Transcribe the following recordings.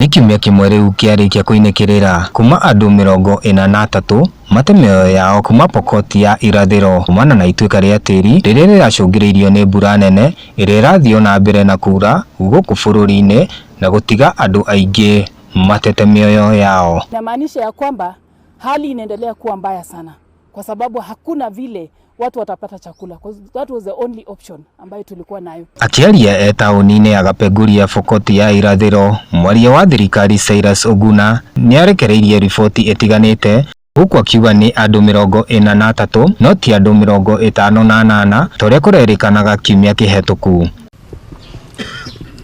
Nĩ kiumia kĩmwe rĩu kĩarĩkia kũinĩkĩrĩra kuma andũ mĩrongo ĩna na atatũ mate mĩoyo yao kuma Pokot ya irathĩro kumana na ituĩka rĩa tĩri rĩrĩa rĩracũngĩrĩirio nĩ mbura nene ĩrĩa ĩrathiĩ o na mbere na kuura gũkũ bũrũri-inĩ na gũtiga andũ aingĩ matete mĩoyo yao. Inamaanisha ya kwamba hali inaendelea kuwa mbaya sana. kwa sababu hakuna vile watu watapata chakula. 'Cause That was the only option ambayo tulikuwa nayo. Akĩaria e taũni-inĩ ya Kapenguria Bokoti ya irathĩro, mwaria wa thirikari Cyrus Oguna nĩarekereirie riboti ĩtiganĩte gũkũ akiuga nĩ andũ mĩrongo ĩna na atatũ no ti andũ mĩrongo ĩtano na anana ta ũrĩa kũrerĩkanaga kiumia kĩhetũku.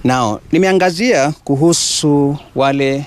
Nao nimeangazia kuhusu wale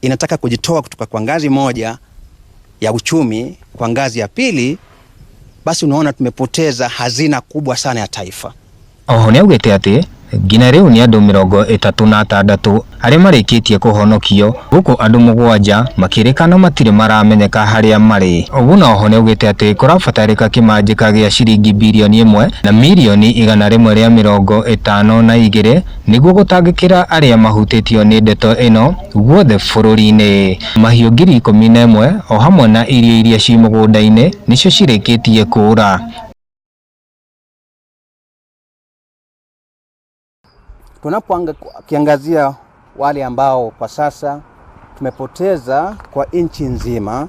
inataka kujitoa kutoka kwa ngazi moja ya uchumi kwa ngazi ya pili, basi unaona tumepoteza hazina kubwa sana ya taifa. Oho nĩ augĩte atĩ nginya rĩu nĩ andũ mĩrongo ĩtatũ na atandatũ arĩa marĩkĩtie kũhonokio gũkũ andũ mũgwanja makĩrĩkana matirĩ maramenyeka harĩa marĩ. Oguna oho nĩ augĩte atĩ kũrabatarĩka kĩmanjĩka gĩa ciringi birioni ĩmwe na mirioni igana rĩmwe rĩa mĩrongo ĩtano na igĩrĩ Nĩguo gũtangĩkĩra arĩa mahutĩtio nĩ ndeto ĩno guothe bũrũri-inĩ, mahiũ ngiri ikũmi na ĩmwe o hamwe na irio iria ciĩ mũgũnda-inĩ nĩcio cirĩkĩtie kũũra. Tunapoangazia wale ambao kwa sasa tumepoteza kwa nchi nzima.